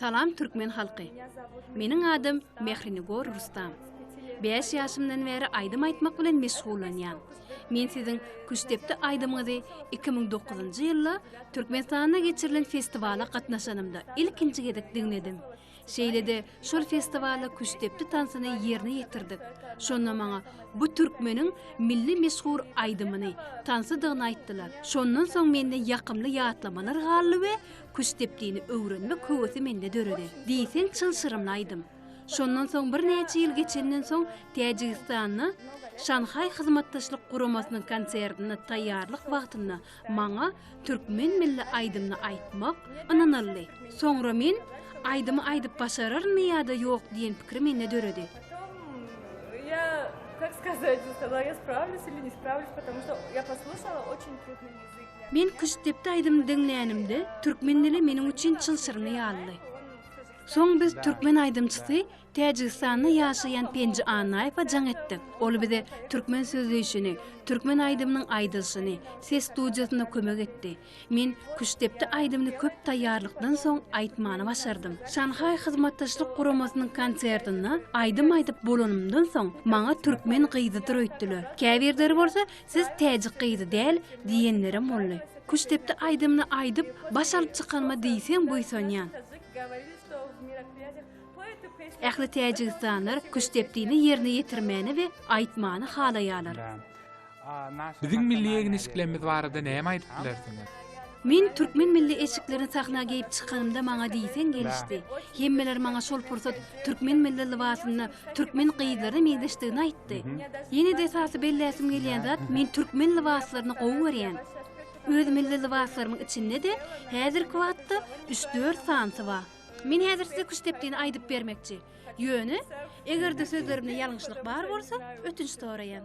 Salam türkmen halky. Meniň adym Mehrinigor Rustam. 5 ýaşymdan bäri aýdym aýtmak bilen meşgullanýan. Men siziň Küştdepdi aýdymyňyzy 2009-njy ýylda Türkmenistanda geçirilen festiwala gatnaşanymda ilkinji gezek diňledim. Şeýle-de şol festiwalda Küştdepdi tansyny ýerine ýetirdik. Şonda maňa bu türkmeniň milli meşhur aýdymyny, tansydygyny aýtdylar. Şondan soň mende ýakymly ýatlamalar galdy we Küştdepdini öwrenmek höwesi mende döredi. Diýseň çylşyrymly aýdym. Şondan soň birnäçe ýyl geçenden soň Täjigistanda Şanhaý Hyzmatdaşlyk Guramasynyň konsertine taýýarlyk wagtynda maňa türkmen milli aýdymyny aýtmak ynanyldy. Soňra men aýdymy aýdyp başararynmy ýa-da ýok diýen pikir mende döredi. Men Küştdepde aýdymyny diňlänimde, türkmen dili meniň üçin çylşyrym ýalydy. Soň biz türkmen aýdymçysy, Täjigistanda ýaşaýan Penji Annaýewe jaň etdik. Ol bize türkmen sözleýşini, türkmen aýdymynyň aýdylyşyny, ses studiýasynda kömek etdi. Men Küştdepde aýdymyny köp taýýarlykdan soň aýtmany başardym. Şanhaý Hyzmatdaşlyk Guramasynyň konsertinde aýdym aýdyp bolanymdan soň, maňa türkmen gyzydyr öýtdüler. Käbirleri bolsa Siz täjik gyzy däl diýenlerem boldy. Küştdepdi aýdymyny aýdyp, baş alyp çykanyma diýseň buýsanýan. Ähli täjigistanlar küştdepdini ýerine ýetirmäni we aýtmany halaýarlar. Biziň milli egin-eşiklerimiz barada näme aýdyp bilersiňiz? Men türkmen milli eşiklerini sahna geýip çykanymda maňa diýseň gelişdi. Hemmeler maňa şol pursat türkmen milli lybasynda türkmen gyzlaryna meňzeşdigini aýtdy. Ýene-de esasy belläsim gelýän zat, men türkmen lybaslaryny gowy görýän. Öz milli lybaslarymyň içinde-de häzirki wagtda üç-dört sanysy bar. Men häzir size küştdepdini aýdyp bermekçi. Ýöne, eger-de sözlerimde ýalňyşlyk bar bolsa, ötünç soraýan.